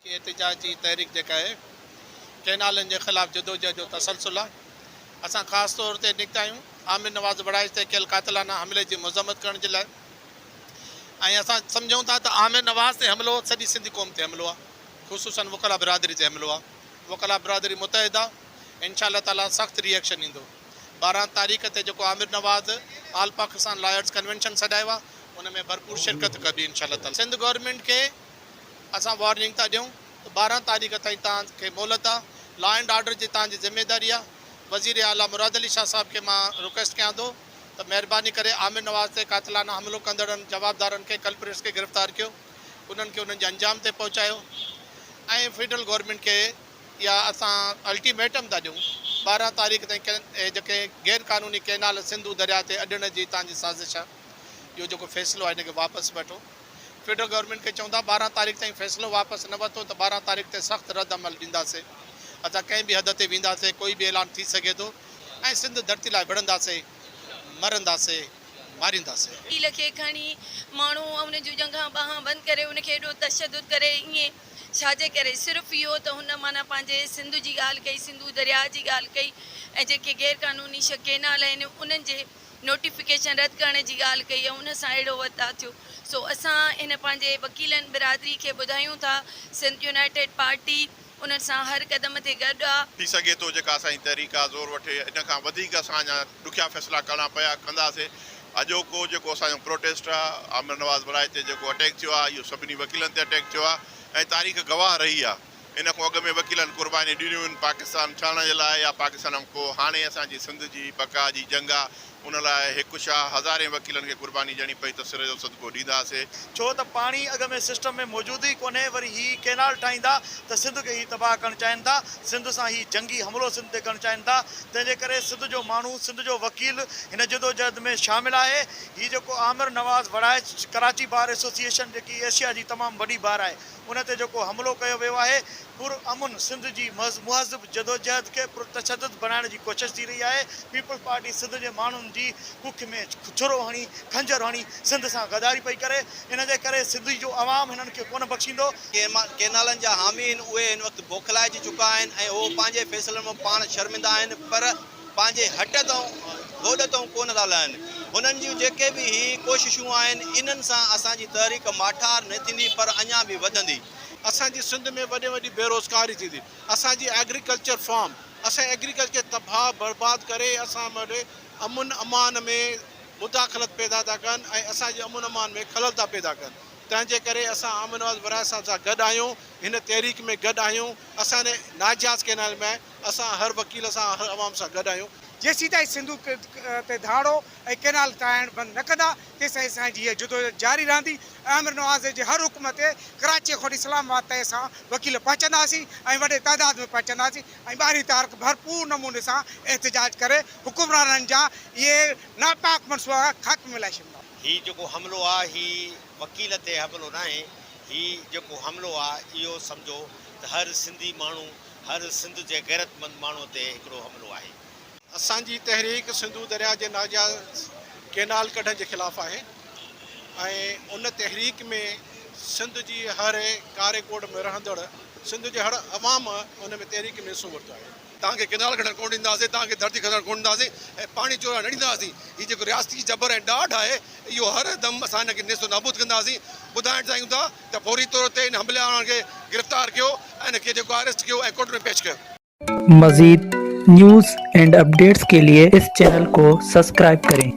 هي احتجاج جي تحريڪ جيڪا اهي ڪئنالن جي خلاف جدوجهد جو تسلسل آهي، اسان خاص طور تي نڪتا آهيون عامر نواز وڙائچ تي ڪيل قاتلانه حملي جي مذمت ڪرڻ جي لاء ۽ اسان سمجهون ٿا ته عامر نواز تي حملو سڄي سنڌي قوم تي حملو آهي خصوصن وڪلا برادري تي حملو آهي وڪلا برادري متحد آهي انشاء الله تعالي سخت ري ايڪشن ايندو ٻارهن تاريخ تي جيڪو Amir Nawaz all Pakistan lawyers convention سڏايو آهي ان ۾ ڀرپور شرڪت ڪبي انشاء الله تعالي سنڌ گورنمينٽ کي. اسان وارننگ ٿا ڏيون ته ٻارهن تاريخ تائين توهان کي مهلت آ، لا اينڊ آرڊر جي توهان جي ذميواري آ، وزير اعليٰ مراد علي شاهه صاحب کي مان رڪويسٽ ڪيان ٿو ته مهرباني ڪري عامر نواز تي قاتلانه حملو ڪندڙن جوابدارن کي ڪلپريٽس کي گرفتار ڪيو، انهن کي انهن جي انجام تائين پهچايو ۽ فيڊرل گورنمينٽ کي اها اسان الٽي ميٽم ٿا ڏيون ٻارهن تاريخ تائين اهي جيڪي غير قانوني ڪئنال سنڌو درياء تي اڏڻ جي توهان جي سازش آ اهو جيڪو فيصلو آ ان کي واپس وٺو. فيڊرل گورنمينٽ کي چئون ٿا ٻارهن تاريخ تائين فيصلو واپس نه ورتو ته ٻارهن تاريخ تي سخت رد عمل ڏينداسين ادا ڪنهن به حد تي وينداسين ڪوئي به اعلان ٿي سگهي ٿو ۽ سنڌ ڌرتي لاء وڙهنداسين مرنداسين مارينداسين. وڪيل کي کڻي ماڻهو ۽ ان جون ڄنگهان ٻانهان بند ڪري ان کي ايڏو تشدد ڪري ائين ڇاجي ڪري صرف اهو ته هن معنيٰ پنهنجي سنڌ جي ڳالهه ڪئي سنڌو درياهه جي ڳالهه ڪئي ۽ جيڪي غير قانوني شق ڪينال آهن انهن جي نوٽيفڪيشن رد ڪرڻ جي ڳالهه ڪئي ۽ ان سان اهڙو وتاء ٿيو سو اسان هن پنهنجي وڪيلن برادري کي ٻڌايون ٿا سنڌ يونائيٽيڊ پارٽي انهن سان هر قدم تي گڏ آ. ٿي سگهي ٿو جيڪا اسان جي تحريڪ آ زور وٺي ان کان وڌيڪ اسان اڃا ڏکيا فيصلا ڪرڻا پيا ڪنداسي اڄوڪو جيڪو اسان جو پروٽيسٽ آ عامر نواز ولايت تي جيڪو اٽيڪ ٿيو آ اهو سڀني وڪيلن تي اٽيڪ ٿيو آ ۽ تاريخ گواهه رهي آ. ان کان اڳ ۾ وڪيلن قربانيون ڏنيون هن پاڪستان ٺهڻ جي لاء يا پاڪستان کان پوء هاڻي اسان جي سنڌ جي بقا جي جنگ آ ان لاء هڪ ڇا هزارين وڪيلن کي قرباني ڏيڻي پئي ته سر جو صدقو ڏينداسي. ڇو ته پاڻي اڳ ۾ سسٽم ۾ موجود ئي ڪونهي وري هي ڪينال ٺاهيندا ته سنڌ کي هي تباهه ڪرڻ چاهين ٿا سنڌ سان هي جنگي حملو سنڌ تي ڪرڻ چاهين ٿا تنهن جي ڪري سنڌ جو ماڻهو سنڌ جو وڪيل هن جدوجهد ۾ شامل آهي هي جيڪو عامر نواز وڙائچ ڪراچي بار ايسوسيئيشن جيڪي ايشيا جي تمام وڏي بار آهي ان تي جيڪو حملو ڪيو ويو آهي، پر امن سنڌ جي مهذب جدوجهد کي پر تشدد بڻائڻ جي ڪوشش ٿي رهي آهي، پيپلز پارٽي سنڌ جي ماڻهن جي ڪک ۾ ڇرو هڻي، خنجر هڻي سنڌ سان غداري پئي ڪري، ان جي ڪري سنڌ جو عوام هنن کي ڪونه بخشيندو. ڪينالن جا حامي آهن، اهي هن وقت بوکلائجي چڪا آهن ۽ اهو پنهنجي فيصلن مان پاڻ شرمندا آهن، پر. پنهنجي هٽ تائون گوڏ تائون ڪونه ٿا لهن. هنن جون جيڪي به هي ڪوششون آهن، انهن سان اسان جي تحريڪ ماٺار نه ٿيندي پر اڃا به وڌندي. اسان جي سنڌ ۾ وڏي ۾ وڏي بيروزگاري ٿيندي. اسان جي ايگريڪلچر فارم، اسان جي ايگريڪلچر کي تباهه برباد ڪري اسان وٽ امن امان ۾ مداخلت پيدا ٿا ڪن ۽ اسان جي امن امان ۾ خلل ٿا پيدا ڪن. تنهن جي ڪري اسان عامر نواز ورايه صاحب سان گڏ آهيون، هن تحريڪ ۾ گڏ آهيون. اسان ناجياز ڪينال ۾. اسان هر وڪيل سان هر عوام سان گڏ آهيون. جيسيتائين سنڌو تي ڌاڙو ۽ ڪئنال ٺاهڻ بند نه ڪندا تيسائين اسان جي هيء جدوجھد جاري رهندي ۽ آمر نوازي جي هر حڪم تي ڪراچيء کان وٺي اسلام آباد تائين اسان وڪيل پهچنداسين ۽ وڏي تعداد ۾ پهچنداسين ۽ ٻارهين تارخ ڀرپور نموني سان احتجاج ڪري حڪمرانن جا اهي ناپاڪ منصوبا خاڪ ۾ لائي ڇڏينداسين. هي جيڪو حملو آ هي وڪيل تي حملو ناهي هي جيڪو حملو آ اهو سمجهو ته هر سنڌي ماڻهو هر سنڌ جي غيرتمند ماڻهو تي هڪڙو حملو آهي. اسان جي تحريڪ سنڌو درياء جي ناجائز ڪينال ڪڍڻ جي خلاف آهي ۽ ان تحريڪ ۾ سنڌ جي هر ڪاري ڪوٽ ۾ رهندڙ سنڌ جي هر عوام ان ۾ تحريڪ ۾ حصو ورتو آهي. توهان کي ڪينال ڪڍڻ ڪونه ڏينداسين، توهان کي ڌرتي کسڻ ڪونه ڏينداسين ۽ پاڻي چورائڻ نه ڏينداسين. هي جيڪو رياستي جبر ۽ ڏاڍ آهي، اهو هر دم اسان ان کي نيست و نابود ڪنداسين. ٻڌائڻ چاهيون ٿا ته فوري طور تي ان حمله آورن کي گرفتار ڪيو ۽ ان کي جيڪو آهي اريسٽ ڪيو ۽ ڪورٽ ۾ پيش ڪيو. مزيد نيوز اينڊ اپڊيٽس ڪي لئي اس چينل ڪو سسڪرائب ڪرين.